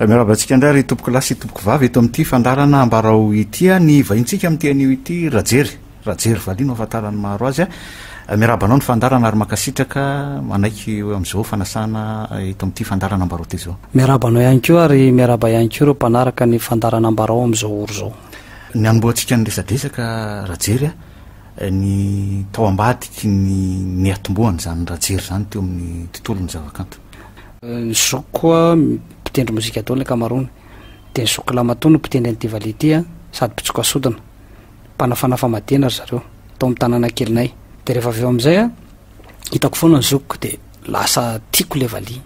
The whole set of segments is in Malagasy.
Miarahaba antsika indray ry tompoko lahy sy tompoko vavy eto amin'ity fandaharana ambarao ity. Ny vahintsika amin'ity anio ity Rajery. Rajery valiha no ahafantaran'ny maro azy. Miarahaba anao ny fandaharana ary mankasitraka manaiky eo amin'izao fanasana eto amin'ity fandaharana ambarao ity izao. Miarahaba anao ihany koa ary miarahaba ihany koa ireo mpanaraka ny fandaharana ambarao amin'izao ora izao. Ny hanombohantsika ny resadresaka Rajery ny tao ambadiky ny niatombohan'izany Rajery izany teo amin'ny tontolon'ny zavakanto. Ny zokiko mpitendry mozika daholo ny ankamaroany, dia ny zokiko lahy matoa no mpitendry an'ity valiha ity an, sady mpitsoka sodina, mpanafana famadihana ry zareo, tao amin'ny tanàna kelinay. Dia rehefa avy eo amin'izay an, hitako foana ny zokiko dia lasa tiako ilay valiha.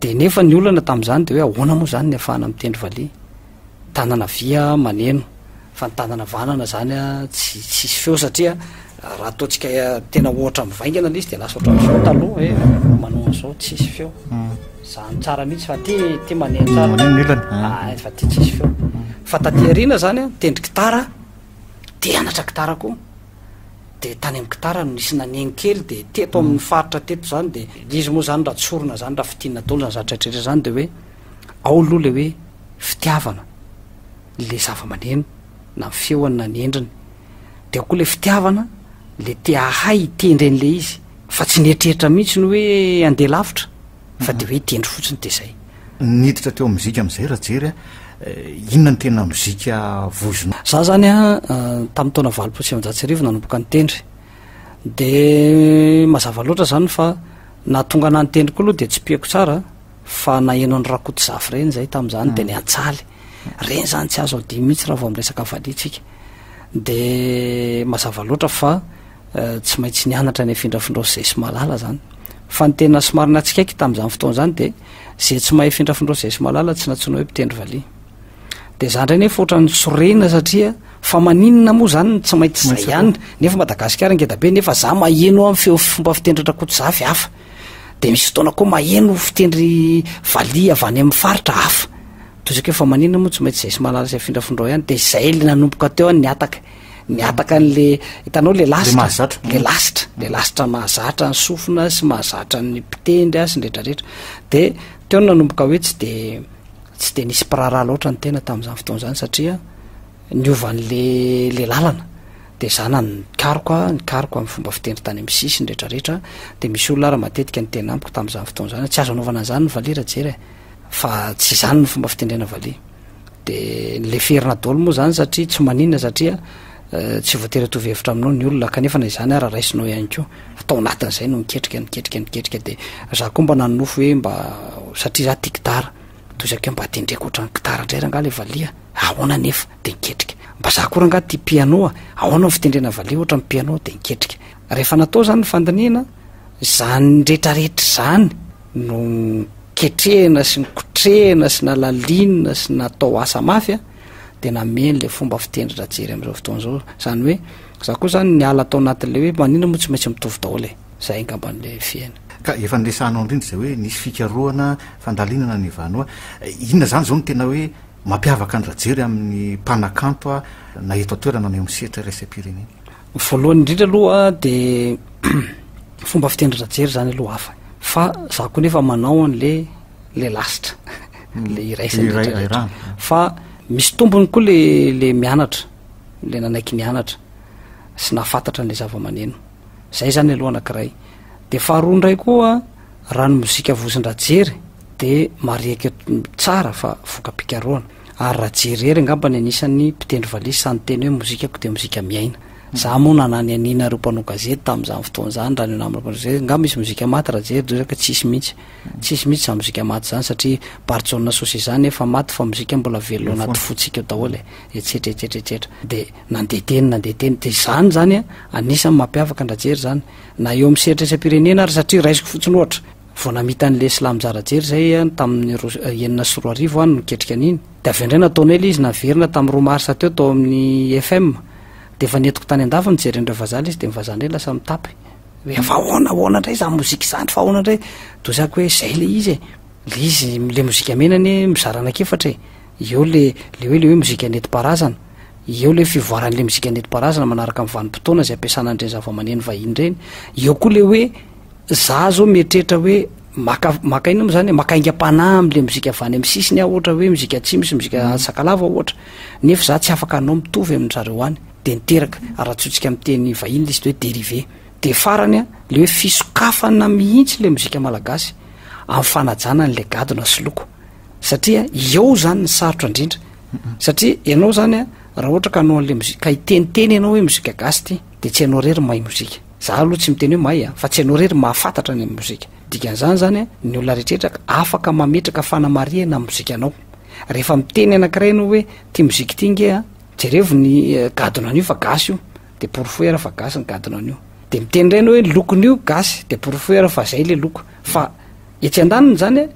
Dia nefa ny olana tamin'izany dia hoe ahoana moa izany ny ahafahana mitendry valiha, tanana havia maneno, Fantanana vanana zany a tsy tsisy feo satria raha ataontsika tena ohatra mivaingana le izy de lasa ohatran'izao taloha e manao an'izao tsisy feo zany tsara mihitsy fa ty ty maneha tsara ny ilany ah fa ty tsisy feo fa taty aoriana zany a tendry gitara de anatra gitara koa de tany amin'ny gitara no nisy nanegny kely de teto amin'ny faritra teto zany de izy moa zany raha tsorina zany raha fitina daholo zany zatra rehetra zany de hoe ao aloha le hoe fitiavana le zava-maneno na ny feony na ny endriny de ao koa le fitiavana le te ahay hitendry an'le izy fa tsy nieritreritra mihitsy ny hoe andeha lavitra fa de hoe hitendry fotsiny de zay niditra teo mozika am'izay raha jery eh, inona ny tena mozika vozona za zany a eh, tamin'ny taona valopolo sy amanjatsy arivo nanomboka ny tendry de mazava loatra zany fa nahatonga na ny tendry koa aloha de tsy piako tsara Fa naheno an'i Rakotozafy ireny izay tamin'izany dia niantsaly. Ireny izany tsy azo adino mihitsy raha vao miresaka valiha tsika. Dia mazava loatra fa tsy maintsy nianatra ny afindrafindrao sy izay sy mahalala izany. Fa ny tena somary natsikaiky tamin'izany fotoana izany dia izay tsy mahay afindrafindrao sy izay sy mahalala tsy nantsoina hoe mpitendry valiha. Dia izaho indray nefa ohatran'ny sorena satria fa maninona moa izany no tsy maintsy izay ihany nefa Madagasikara ngeda be nefa izaho maheno amin'ny feo fomba fitendry an-dRakotozafy hafa. de misy fotoana koa maheno fitendry valiha avy any amin'ny faritra hafa toy izay koa fa manina moa tsy maintsy izay sy malala izay findrafindrao ihany de izay le nanomboka teo any ny ataka ny ataka an'le hitanao le lasitra le lasitra le lasitra mahazatra ny sofina sy mahazatra ny mpitendry a sy ny retraretra de teo no nanomboka hoe tsy de tsy de nisy mpiraharaha loatra ny tena tamin'izany fotoana izany satria Niova an'le le lalana de zana ny karoka, ny karoka amin'ny fomba fitendry tany amin'ny sisiny rehetra rehetra, de misy olona ary matetika niteny amiko tamin'izany fotoana zany, tsy azo anaovana an'izany ny valiha rajery eh, fa tsy izany ny fomba fitendrena valiha, de leferina daholo moa zany satria tsy maninona satria tsy voatery hitovy hevitra aminao ny olona, kanefa na izany ara raisinao ihany koa, fa tao anatin'izay no niketrika, niketrika, niketrika, de za koa mba nanonofy hoe mba satria za tia gitara. Toy izay kay mba tendreko ohatran'ny gitara indray rangaha ilay valiha a! Ahoana anefa? Dia niketrika. Mba izaho koa rangaha tia piano a! Ahoana ny fitendrena valiha ohatran'ny piano? Dia niketrika. Rehefa natao izany ny fandinihana, izany rehetra rehetra izany no noketrehina sy nikotrehina sy nalalinina sy natao asa mafy a! Dia nameno ilay fomba fitendry Rajery amin'izao fotoana izao. Izany hoe, izaho koa izany niala tao anatin'ilay hoe maninona moa tsy maintsy mitovy daholo e! Zay angamba no fiaina. Ka efa niresahanao indrindra izay hoe nisy fikarohana, fandalinana ny Vanoa. Inona izany izao no tena hoe mampiavaka an'i Rajery amin'ny mpanakanto na eto an-toerana na eo amin'ny sehatra iraisam-pirenena? Voalohany indrindra aloha dia fomba fitendry Rajery izany aloha hafa. Fa za koa nefa manao an'le le lasitra, le hmm. iray isan'iratra. Fa misy tombony koa le le mianatra, le nanaiky nianatra sy nahafantatra an'le zava-maneno. zay zany aloha anakiray de faharoa indray koa raha ny mozika vozondrajery de mariaketo tsara fa voka-pikaroana ary raha jerery angambany anisan'ny mpitendry valisy sany teny hoe mozikako de mozika miaina za moa nanany anina reo mpanao gazety tamin'izany fotoana zany raha ny namrapazay nga misy mozika maty raha jery dozaka tsisy mihitsy tsisy mihitsy za mozika maty zany satria barjona sosy zany efa maty fa mozika mbola velona anaty fotsika eo daholo e etsetra etsetra etsetra de Nandeha teny nandeha teny dia izany izany a, anisan'ny mampiavaka an-dRajery izany na eo amin'ny sehatra isam-pirenena ary satria raisiko fotsiny ohatra, vao namita an'i Lesla Mizarajery izay a, tamin'ny roa, enina sy roa arivo any no niketrika an'iny, dia avy indray nataonay ilay izy naverina tamin'ny roa marsa teo tao amin'ny IFM, dia efa nentiko tany an-dafy nijeren'ny ireo vazaha ilay izy dia ny vazaha indray lasa mitapy hoe fa ahoana ahoana indray izany mozika izany fa ahoana indray, dia hozako hoe izay ilay izy e, ilay izy ilay mozika mena anie mizara anankiefatra e. eo le le hoe le hoe mozika nentim-paharazana, eo le fivoaran'le mozika nentim-paharazana manaraka ny vanim-potoana izay ampiasana an'ireny zavamaneno vahiny ireny, eo koa le hoe za zao mieritreritra hoe maka maka inona moa zany e, maka aingam-panahy amin'le mozika avy any amin'ny sisiny aho ohatra hoe mozika atsimo sy mozika mm. sakalava ohatra, nefa za tsy afaka hanao mitovy amin-dry zareo any, de niteraka aratsotsika amin'ny teny vahiny le izy hoe dérivé, de farany a le hoe fisokafana mihitsy le mozika malagasy amin'ny fanajana an'le gadona sy loko. satria eo zany ny sarotra indrindra satria ianao zany a raha ohatra ka anao an'le mozika ka hiteniteny ianao hoe mozika gasy ity de tsy ianao rery mahay mozika za aloha tsy miteny hoe mahay a fa tsy ianao rery mahafantatra ny amin'ny mozika dikan'izany zany a ny olona rehetraretra afaka mametraka fanamarihana amin'ny mozikanao rehefa miteny anankiray ianao hoe tia mozika ity nge a jerevo ny eh, gadona an'io fa gasy io de porofoera fa gasy ny gadona an'io de miteny indray ianao hoe lokon'io gasy de porofoera fa zay le loko fa etsy an-daniny zany a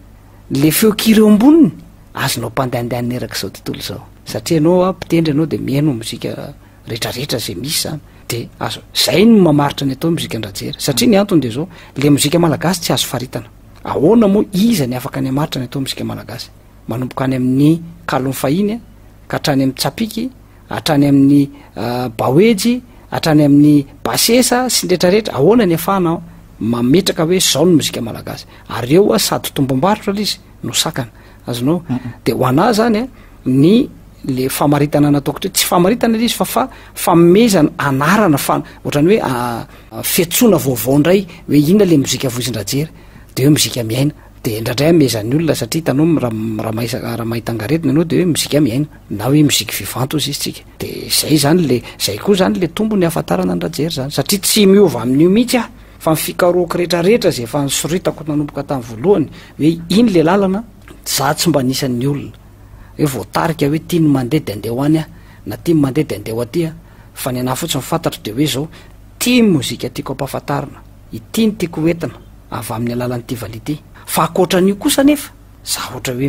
Le feo kira eo amboniny azonao pandaindainina erak'izao tontolo izao satria ianao a mpitendry ianao dia mihaino mozika retraretra izay misy izany dia azo zay no mamaritra ny atao mozika andrajera satria ny antony dia zao le mozika malagasy tsy azo faritana ahoana moa iza ny afaka ny hamaritra ny atao mozika malagasy manomboka any amin'ny kalon'ny fahiny ka hatrany amin'ny tsapiky hatrany amin'ny baoejy, hatrany amin'ny basesa sy ny rehetra rehetra, ahoana ny afahana mametraka hoe zao ny mozika malagasy, ary eo a sady tombom-barotra lay izy no sakana, azonao, de ho anah zany a ny le famaritana nataoko teo, tsy famaritana lay izy fa fa famezana anarana fa ohatrany hoe fetsoana vaovao ndray hoe inona le mozika voizin-dRajery de hoe mozika miaina. de indraindray amezan'ny olona satria hitanao m- ra- m- raha maisa- raha mahita angaretina ianao de hoe mozika mihaino na hoe musique vivante hozy izy tsika de zay zany le zay koa zany le tombony hahafantarana ny rajery zany satria tsy miova amin'io mihitsy aho fa ny fikarohako rehetrarehetra zay efa nisoritako nanomboka tamin'ny voalohany hoe iny le lalana za tsy mba anisan'ny olona hoe voatarika hoe tia ny mandeha de andeha ho any aho na tia ny mandeha de andeha ho aty aho fa ny anahy fotsiny fantatro de hoe zao tia ny mozika tiako ampahafantarina Ity no tiako hoentina avy amin'ny alalan'ity valiha ity. Fa ankoatran'io kosa anefa, za ohatra hoe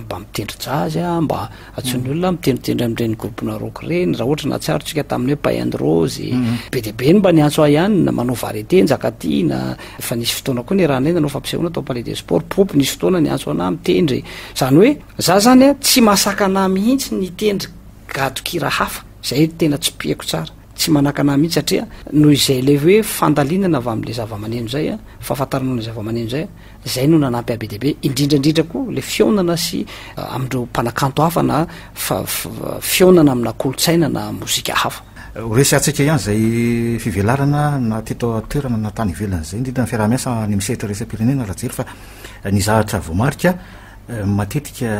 mba mitendry jazz a, mba antsoin'ny olona mitendritendry amin'ireny groupe-na rock ireny, raha ohatra nahatsiarontsika tamin'ny hoe Pay and Rose, be dia be ny mba niantso ahy ihany, manao variété, Njakatiana, efa nisy fotoana koa niarahana nanao fampisehoana tao Palais des Sports, Poopy nisy fotoana niantso anah mitendry, izany hoe za izany a tsy mahasakana ahy mihitsy ny hitendry gadon-kira hafa, izay tena tsipihiko tsara. Tsy manakana ahy mihitsy satria noho izay ilay hoe fandalinana avy amin'ilay zavamaneno izay a, fahafantarana an'ilay zavamaneno izay, izay no nanampy ahy be dia be, indrindra indrindra koa ilay fihaonana sy amin'ireo mpanakanto hafa na fihaonana amina kolontsaina na mozika hafa. Horesahantsika ihany izay fivelarana na teto an-toerana na tany ivelany izay, indrindra ny fiaraha-miasa any amin'ny sehatra iraisam-pirenena, Rajely, fa ny zavatra voamarika, Matetika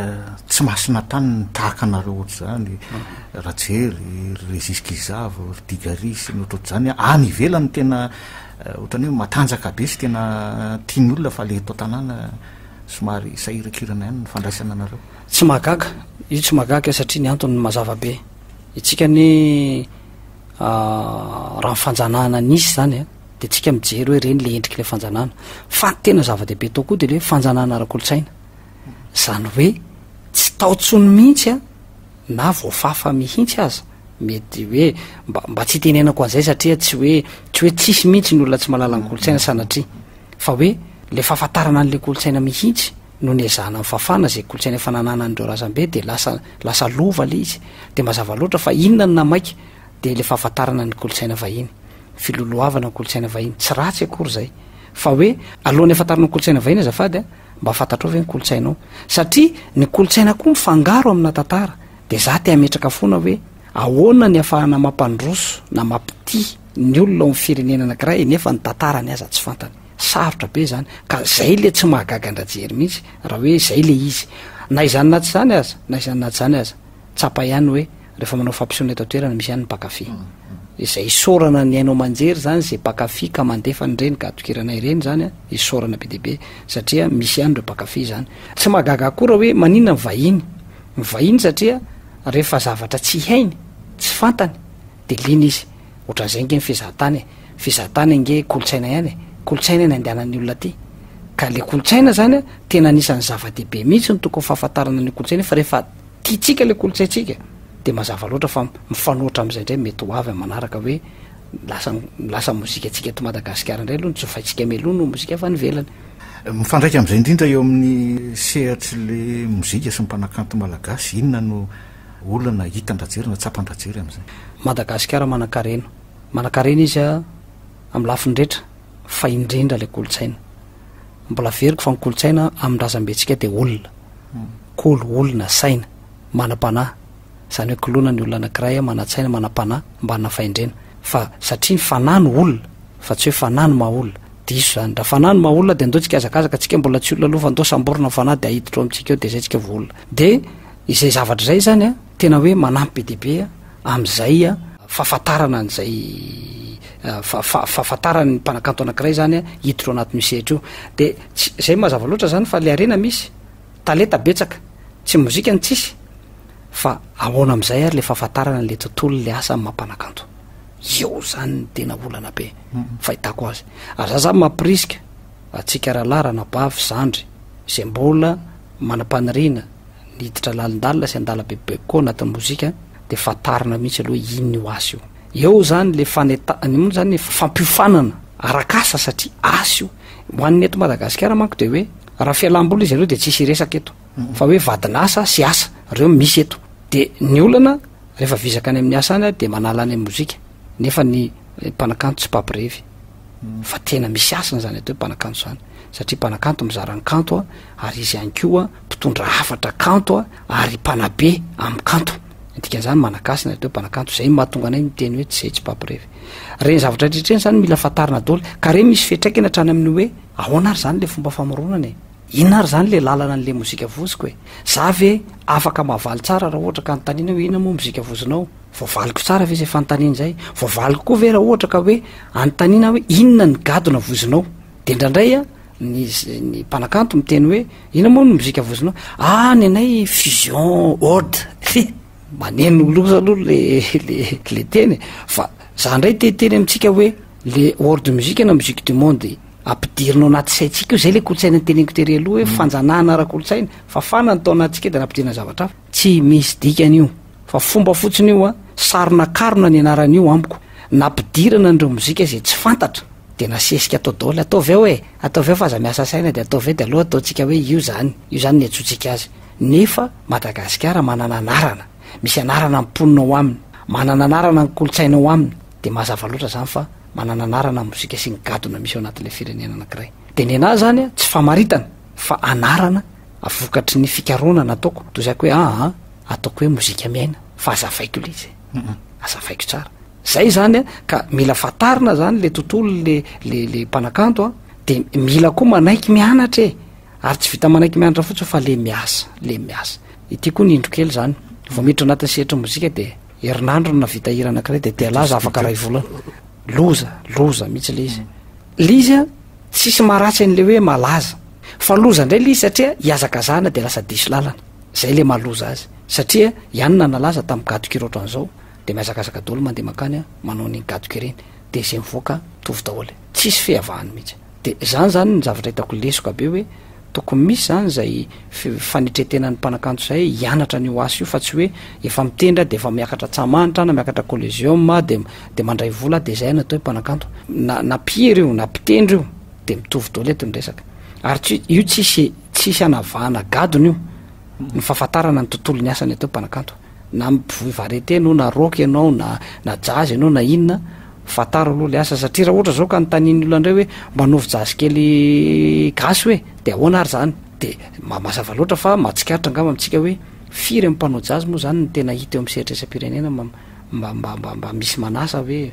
tsy masina tany ny tahaka anareo ohatr'izany, Rajery, ry Régis Gizavo, ry Digari sy ny ohatrohatr'izany. Any ivelany tena ohatran'ny hoe matanjaka be sy tena tian'ny olona fa ilay eto an-tanàna somary sahirakirana ihany ny fandraisana anareo. Tsy mahagaga, io tsy mahagaga satria ny antony mazava be. Itsika anie raha ny fanjanahana nisy izany a, dia tsika mijery hoe ireny le endriky le fanjanahana fa ny tena zava-dehibe tao koa de le hoe fanjanahana ara-kolontsaina zany hoe tsy tao tsony mihitsy a na voafafa mihitsy aza mety hoe mba mba tsy itenenako an'izay satria tsy hoe tsy hoe tsisy mihitsy ny olona tsy malala ny kolontsaina sanatria fa hoe le fahafantarana an'le kolontsaina mihitsy no ny ezahana nfafana zay kolontsaina efa nanana an'ireo razambe de lasa lasa lova le izy de mazava loatra fa inona ny namaika de le fahafantarana ny kolontsaina vahiny filolohavana ny kolontsaina vahiny, tsy ratsy akory izay, fa hoe alohan'ny hafantarana ny kolontsaina vahiny azafady a, mba fantatrao ve ny kolontsainao, satria ny kolontsaina koa mifangaro amina tantara, dia za te hametraka foana hoe ahoana ny afahana mampandroso na mampitia ny olona ao amin'ny firenena anakiray nefa ny tantarany aza tsy fantany, sarotra be izany, ka izay le tsy mahagaga an-dRajery mihitsy raha hoe izay le izy, na izany na tsy izany aza, na izany na tsy izany aza, tsapa ihany hoe. rehefa manao fampisehoana eto an-toerana misy ihany ny mpankafy izay isaorana ny haino aman-jery izany izay mpankafy ka mandefa an'ireny gadon-kira-nay ireny izany a isaorana be dia be satria misy ihany ireo mpankafy izany tsy mahagaga akory raha hoe maninona ny vahiny ny vahiny satria rehefa zavatra tsy hainy tsy fantany dia liana izy ohatran'izay ange ny fizahan-tany e fizahan-tany ange kolontsaina ihany e kolontsaina ny andehanan'ny olona aty ka le kolontsaina izany a tena anisan'ny zava-dehibe mihitsy ny tokony fahafantarana ny kolontsaina fa rehefa Tiantsika ilay kolontsaintsika dia mazava loatra fa mifanohitra amin'izay indray mety ho avy amin'ny manaraka hoe lasa lasa ny mozikantsika eto Madagasikara indray aloha ny jofaintsika mialoha noho ny mozika avy any ivelany. Mifandraika amin'izay indrindra eo amin'ny sehatr'ilay mozika sy ny mpanakanto malagasy, inona no olana hitan-dRajery na tsapan-dRajery amin'izay? Madagasikara manan-karena. Manan-karena izy amin'ny lafiny rehetra, fa indrindra ilay kolontsaina. Mbola averiko fa ny kolontsaina amin'ny razambentsika dia olona. Hmm. Kolo, olona, saina, manam-panahy. Izany hoe koloana ny olona anankiray, manan-tsaina, manam-panahy, mba hanana fahendrena. Fa satria ny fanahy no olona, fa tsy hoe fanahy no maha olona. Diso izany. Raha fanahy no maha olona dia ndao tsikazakazaka antsika mbola tsy olona aloha fa ndao samborina ny fanahy dia ahiditra ao amintsika ao dia izay tsika vao olona. Dia izay zavatra izay izany an, Tena hoe manampy be dia be amin'izay fahafantarana an'izay fahafantarany ny mpanakanto anankiray zany hiditra ao anatin'io sehatra io. Dia tsy izay mazava loatra zany fa le harena misy, talenta betsaka, tsy mozika no tsisy fa ahoana amin'izay ary le fahafantarana an'le tontolo le asa amin'ny maha mpanakanto. Eo zany ny tena olana be fahitako azy. Ary za zany mampirisika. Antsika rahalahy ranabavy zandry izay mbola manam-paniriana ny hiditra lalindalina sy handala bebibeby koa anatin'ny mozika dia fantarina mihitsy aloha inn io asa io. Eo zany le faneta, ny moa zany fampiofanana arak'asa satria asa io. Ho an'ny eto Madagasikara manko dia hoe raha fialam-boly izy ireo dia tsisy hiresaka eto fa hoe vadin'asa sy asa reo misy eto. Dia ny olana rehefa vizaka any amin'ny asa any dia manala any amin'ny mozika nefa ny mpanakanto tsy mpampirevy. fa tena misy hasina zany atao hoe mpanakanto zany satria mpanakanto mizara ny kanto a ary izy ihany koa mpitondra hafatra kanto a ary mpanabe amin'ny kanto dika zany manakasina atao hoe mpanakanto zay mahatonga anay miteny hoe tsy zay tsy mpampirevy reny zavatra tretreny zany mila fantarina doly ka re misy fetraikana hatrany amin'ny hoe ahoana ary zany le fomba famoronana e inona ary zany le lalana an'le mozika voziko e za ve afaka mahavaly tsara raha ohatra ka ny tanina hoe inona moa mozika vozinao Voavaliko tsara ve izay fanontaniana izay? Voavaliko koa ve raha ohatra ka hoe anontaniana aho hoe inona ny gadona voizinao? Dia indraindray an, ny ny mpanakanto miteny hoe inona moa ny mozika voizinao? Ah, ny anay fusion oud. He, maneno loza aloha le le le teny e! Fa za indray te hiteny amintsika hoe le world music na musique du monde ampidirina ao anaty saintsika io, izay le kolontsaina noteneniko tery aloha hoe fanjanahana ara-kolontsaina, fafana ny tao anatintsika dia nampidirina zavatra hafa. Tsy misy dikany io. Fa fomba fotsiny io a, sary nakarona ny anarana io amiko, nampidirana an'ireo mozika izay tsy fantatra dia nasesika atao daholo, ataovy ao e, ataovy ao fa aza miasa saina dia ataovy ao dia aleo ataontsika hoe io izany, io izany no iantsoantsika azy. Nefa Madagasikara manana anarana, misy anarana ny mponina ao aminy, manana anarana ny kolontsaina ao aminy, dia mazava loatra izany fa manana anarana ny mozika sy ny gadona misy ao anatin'ilay firenena anankiray. Dia ny anà izany a, tsy famaritana fa anarana vokatry ny fikarohana nataoko toy zako hoe aa ah, ataoko hoe mozika miaina fa azavaiko le izy azavaiko tsara zay zany a ka mila fatarina zany le tontolo le le le mpanakanto a de mila koa manaiky mianatra e ary tsy vita manaiky mianatra fotsiny fa le miasa le miasa ity koa ny indro kely zany vao miditra anatin'ny sehatry mozika de herinandro no navita hira anakiray de dia laza afaka ray volana loza loza mihitsy le izy le izy a tsisy maharatsy an'le hoe malaza fa loza indray le izy satria hiazakazahana de lasa diso lalana zay le mahaloza azy satria ihany na nalaza tamin'ny gadok ireo ohatran'izao de mihazakazaka daholo mandeha mankany a manao an'iny gadok ireny de zay mivoaka mitovy daholo e tsisy fihavahana mihitsy de zany zany ny zavatra hitako lesoka be hoe tokony misy zany zay fanetretenan'ny mpanakanto zay hianatra ny oasy io fa tsy hoe efa mitendra de efa miakatra tsamanitra na miakatra collegium de de mandray vola de zay natao hoe mpanakanto na na mpihira io na mpitendry io de mitovy daholo eto ny resaka ary tsy io tsisy tsisy anavahana gadona io ny fahafantarana ny tontolon'ny asany atao hoe mpanakanto na mpivoy varieté no na rock ianao na na jazz ianao na inona fantaro aloha le asa satria raha ohatra zao ka notanian'ny olona indray hoe mba anaovy jazz kely gasy hoe de ahoana ary zany de ma- mazava loatra fa mahatsikaritra angamba amintsika hoe firy amin'ny mpanao jazz moa zany ny tena hita eo amin'ny sehatra isam-pirenena ma- mba mba mba mba misy manasa hoe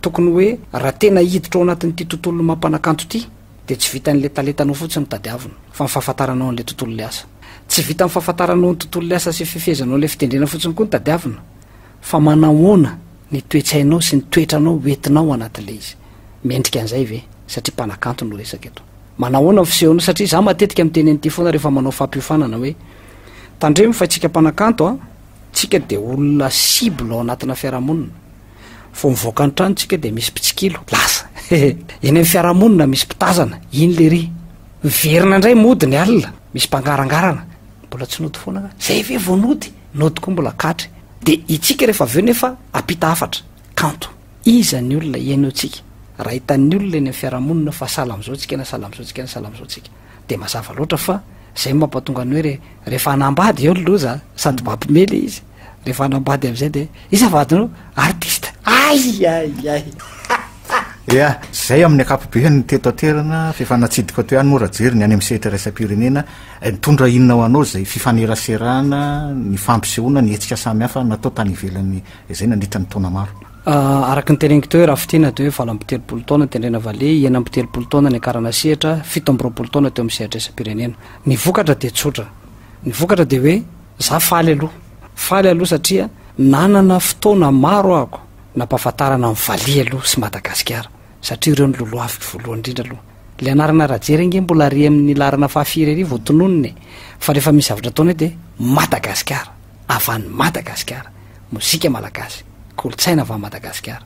Tokony hoe raha tena hiditra ao anatin'ity tontolon'ny maha-mpanakanto ity dia tsy vitan'ilay talentanao fotsiny no tadiavina fa ny fahafantaranao an'ilay tontolon'ilay asa. Tsy vitan'ny fahafantaranao ny tontolon'ilay asa sy fifehezanao ilay fitendrena fotsiny koa no tadiavina fa manahoana ny toe-tsainao sy ny toetranao hoentinao anatin'ilay izy. Mendrika an'izay ve? Satria mpanakanto no resaka eto. Manahoana ny fisehonao satria izaho matetika miteny an'ity foana rehefa manao fampiofanana hoe tandremo fa isika mpanakanto an, tsika dia olona cible ao anatina fiarahamonina. vao mivoaka ny trano tsika dia misy mpitsikilo lasa eny amin'ny fiarahamonina misy mpitazana iny le ry miverina indray mody ny alina misy mpangarangarana mbola tsy nody foana ka zay ve vao nody nody koa mbola katry de itsika rehefa avy eo nefa apita hafatra kanto iza ny olona ihainoantsika raha hitan'ny olona eny amin'ny fiarahamonina fa sahala amin'izao tsika na sahala amin'izao tsika na sahala amin'izao tsika de mazava loatra fa zay mampatonga ny hoe re rehefa anambady eo ny loza sady mampimely izy rehefa anambady am'izay de iza vadinao artiste ay ay ay ea zay amin'ny akapobe ny teto aterana fefa natsidika to ihany moa raha jery ny any am sehitra raisam-pirenena eh, nitondra inona ho anao zay fifaneraserana ny fampisehoana ny hetsika samy hafa natao tany ivelany izay nandritra ny taona maro Araka ny tereniko teo hoe Rafitina dia hoe valo amby telopolo taona tendrena vale, enina amby telopolo taona niakarana sehatra, fito amby roapolo taona teo amin'ny sehatra isam-pirenena. Ny vokatra dia tsotra. Ny vokatra dia hoe za faly aloha. Faly aloha satria nanana fotoana maro ahako nampahafantarana ny vale aloha sy Madagasikara satria ireo no lolohaviko voalohany indrindra aloha. Ilay anarana Rajery ange mbola ary amin'ny laharana fahafiry ary vao tononina e. Fa rehefa misy zavatra ataonay dia Madagasikara. avy any Madagasikara, mozika malagasy, kolontsaina avy any Madagasikara,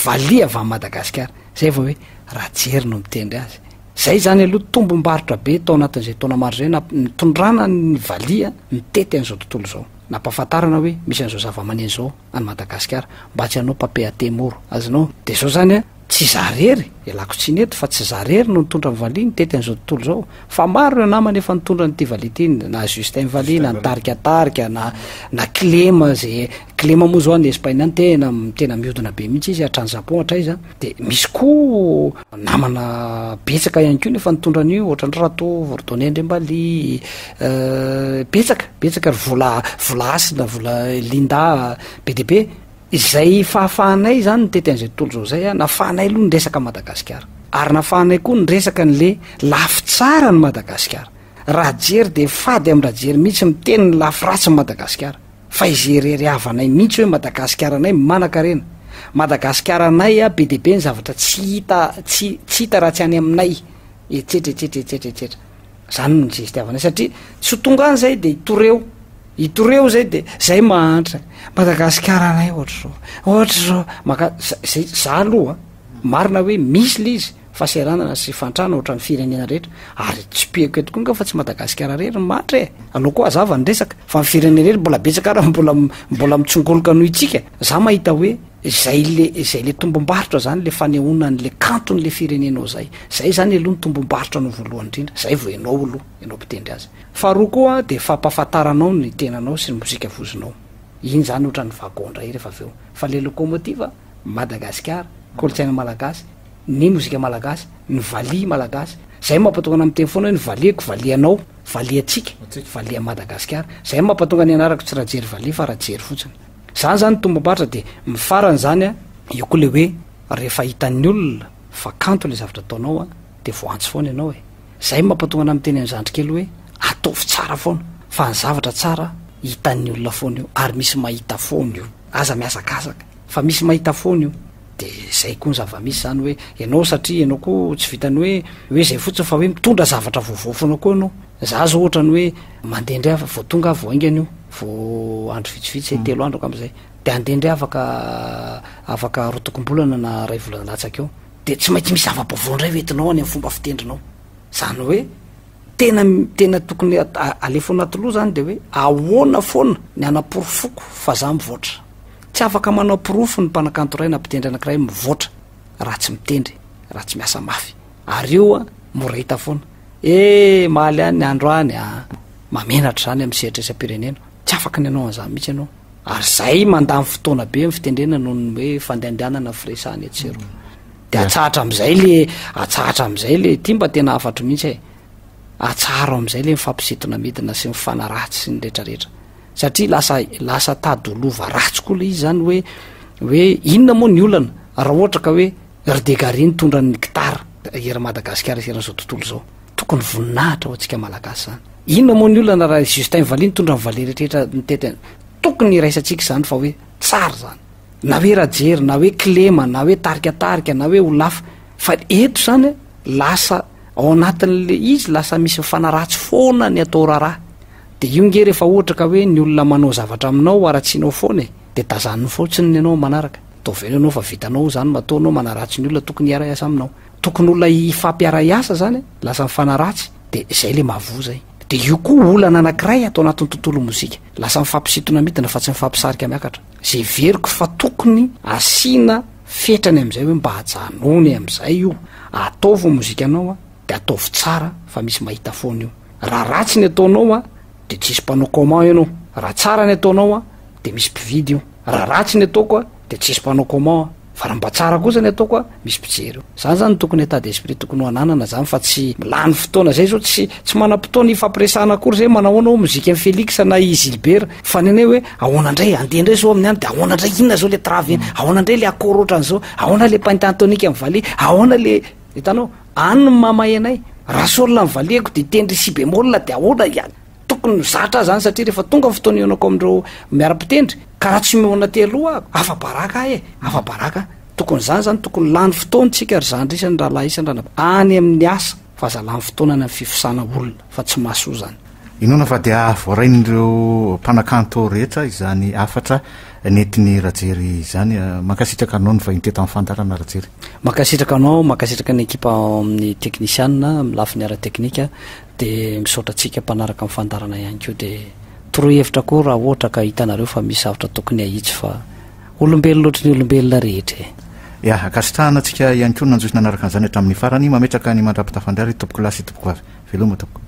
valiha avy any Madagasikara, zay vao hoe Rajery no mitendry azy. Zay zany aloha tombom-barotra be tao anatin'izay taona maro izay namp- nitondrana ny valiha nitety an'izao tontolo izao. Nampahafantarana hoe misy an'izao zavamaneno izao any Madagasikara mba tsy hanao papier à thé moro, azonao? Dia zao zany a, Tsy izaho irery, ialako tsiny eto, fa tsy izaho irery no nitondra ny valiha nitety an'izao tontolo izao, fa maro ireo namana efa nitondra an'ity valiha ity, na Justin valiha, na nitarika tarika, na na kilema izay, kilema moa izao any Espaina any tena tena mihodina be mihitsy izy, hatrany Japon hatraiza, dia misy koa namana betsaka ihany koa no efa nitondra an'io, ohatra ndry Ratoa Vorodonia Andriambaliha, betsaka, betsaka ry Vola Vola Hasina, Vola Linda, be dia be. Izay fahafahanay izany no tety an'izay tontolo izao izay, nafahanay aloha ny resaka an'i Madagasikara. Ary nafahanay koa ny resaka an'ilay lafy tsara an'i Madagasikara. Rajery dia fady amin-dRajery mihitsy miteny ny lafy ratsin'i Madagasikara. Fa izay irery havanay mihitsy hoe Madagasikaranay manankarena. Madagasikaranay be dia be ny zavatra tsy hita, tsy, tsy hita raha tsy any aminay. Etsetra, etsetra, etsetra, etsetra. Izany no zesty havanay satria tsy ho tonga any izay dia hitory eo. I Toreo zay de zay mahantra Madagasikara anay ohatr'izao ohatr'izao maka zay za aloha marina hoe misy le izy fahaseranana sy fantrana ohatran'ny firenena rehetra ary tsipihako eto koa nga fa tsy Madagasikara rery ny mantra e aloha koa azava ny resaka fa ny firenena rery mbola betsaka raha mbola mbola mitsongoloka noho itsika za mahita hoe zay le zay le tombom-barotra zany le fanehoana an'le kanton'le firenenao zay zay zany aloha ny tombom-barotra no voalohany indrindra zay vao ianao aloha ianao mpitendry azy. Faharoa koa dia fampahafantaranao ny tenanao sy ny mozika vozinao. Iny zany ohatran'ny wagon indray rehefa avy eo. Fa le locomotive, Madagasikara, kolontsaina malagasy, ny mozika malagasy, ny valiha malagasy. Zay mampatonga anah miteny foana hoe ny valiako, valianao, valiantsika, valian'i Madagasikara. Zay no mampatonga ny anarako tsy Rajery Valiha fa Rajery fotsiny. Zany zany tombam-paritra dia mifarany zany an. Eo koa le hoe rehefa hitan'ny olona fa kanto le zavatra ataonao dia voantso foana ianao e. Izay mampatonga anah miteny an'zandry kely hoe ataovy tsara foana fa ny zavatra tsara hitan'ny olona foana io ary misy mahita foana io aza mihazakazaka fa misy mahita foana io de zay koa ny zavamisy zany hoe ianao satria ianao koa tsy vitany hoe hoe zay fotsiny fa hoe mitondra zavatra vaovao foana koa ianao za zao ohatrany hoe mandeha ndray afa vao tonga vao aingana io vao andro vitsivitsy mm. telo andro akam zay de andeha ndray afaka afaka rotokombolana na ray volana latsaka eo dia tsy maintsy misy zava-baovao indray ho entinao any amin'ny fomba fitendrinao. Izany hoe tena tena tokony alefa anaty loha izany dia hoe ahoana foana ny hanaporofoko fa za mivoatra. Tsy afaka manao porofo ny mpanakanto iray na mpitendry anankiray mivoatra raha tsy mitendry, raha tsy miasa mafy. Ary io a, mora hita foana. Eh, maly any ny andro any a! Mamenatra izany amin'ny sehatresam-pirenena. Tsy afaka ny hanao an'izany mihitsy ianao. Ary izay mandany fotoana be amin'ny fitendrena noho ny hoe fandehandehanana firesahana etsy sy eroa. Dia Yeah. atsahatra amin'izay le atsahatra amin'izay le ity mba tena hafatro mihitsy e. Atsaharo amin'izay le mifampisintona midina sy mifanaratsy sy ny retraretra. Satria lasa lasa tady ho lova ratsy koa le izy zany hoe hoe inona moa ny olana raha ohatra ka hoe ry Degary nitondra ny gitara eran'i Madagasikara sy eran'izao tontolo izao. Tokony voninahitra ho antsika malagasy zany. Inona moa ny olana raha Justin Vali nitondra ny vale rehetra nitety tokony iraisantsika izany fa hoe tsara zany. Na hoe Rajery, na hoe Kilema, na hoe tarikatarika, na hoe Olafa fa eto zany lasa ao anatin'le izy lasa misy mifanaratsy foana ny atao raharaha. De io nge rehefa ohatra ka hoe ny olona manao zavatra aminao haratsianao foana e de tazaniny fotsiny ny anao manaraka. Ataovy eo ny anao fa vitanao zany matoa anao manaratsy ny olona tokony hiara-hiasa aminao. tokony olona hifampiaray asa zany a, lasa mifanaratsy de zay le mahavoa zay, de io koa olana anakiray ato anatin'ny tontolo mozika, lasa mifampisintona midina fa tsy mifampisarika miakatra, ze heveriko fa tokony asiana fetrany amizay hoe mba ajanony amizay io, ataovy mozikanao a de ataovy tsara fa misy mahita foana io, raha ratsy ny ataonao a de tsisy mpanao comment enao, raha tsara ny ataonao a de misy mpividy io, raha ratsy ny ataoko a. Dia tsisy mpanao comment a! Fa raha mba tsara kosa ny ataoko a! Misy mpijery eo. Zany zany no tokony état d'esprit tokony ho ananana zany fa tsy lany fotoana zay zao tsy tsy manam-potoana hifampiresahana akory zay manahona hoy mozika an'i Felix na i Gilbert fa ny anay hoe ahoana ndray andeha ndray zao amin'ny any dia ahoana ndray inona zao le travy iny ahoana ndray le accord ohatran'izao ahoana le pentatonique an'i Valiha ahoana le hitanao any no mahamay anay raha sol an'i Valiha ko dia hitendry si bémol dia ahoana Tokony ho zatra zany satria rehefa tonga ny fotoana ihaonako amin'ireo miara-pitendry ka raha tsy mihaona aty aloha aho, afa-baraka aho e, afa-baraka aho. Tokony izany izany, tokony lany fotoana isika ry zandry isany rahalahy isany ranabavy any amin'ny asa fa aza lany fotoana any amin'ny fifosana olona fa tsy mahasoa izany. Inoana fa dia voarain'ireo mpanakanto rehetra izany hafatra nentin'i Rajery izany. Mankasitraka anao ny vahiny teto amin'ny fandaharana Rajery. Mankasitraka anao, mankasitraka ny ekipa ao amin'ny teknisiana amin'ny lafiny ara-teknika. Dia misaotra antsika mpanaraka ny fandaharana ihany koa dia toroy hevitra koa raha ohatra ka hitanareo fa misy zavatra tokony ahitsy fa olombelona ohatry ny olombelona rehetra e. Ya, ankasitrahana antsika ihany koa ny nanjohy sy nanaraka an'izany hatramin'ny farany, mametraka ny mandra-pitafan-dry ary tompoko lahy sy tompoko vavy. Veloma tompoko.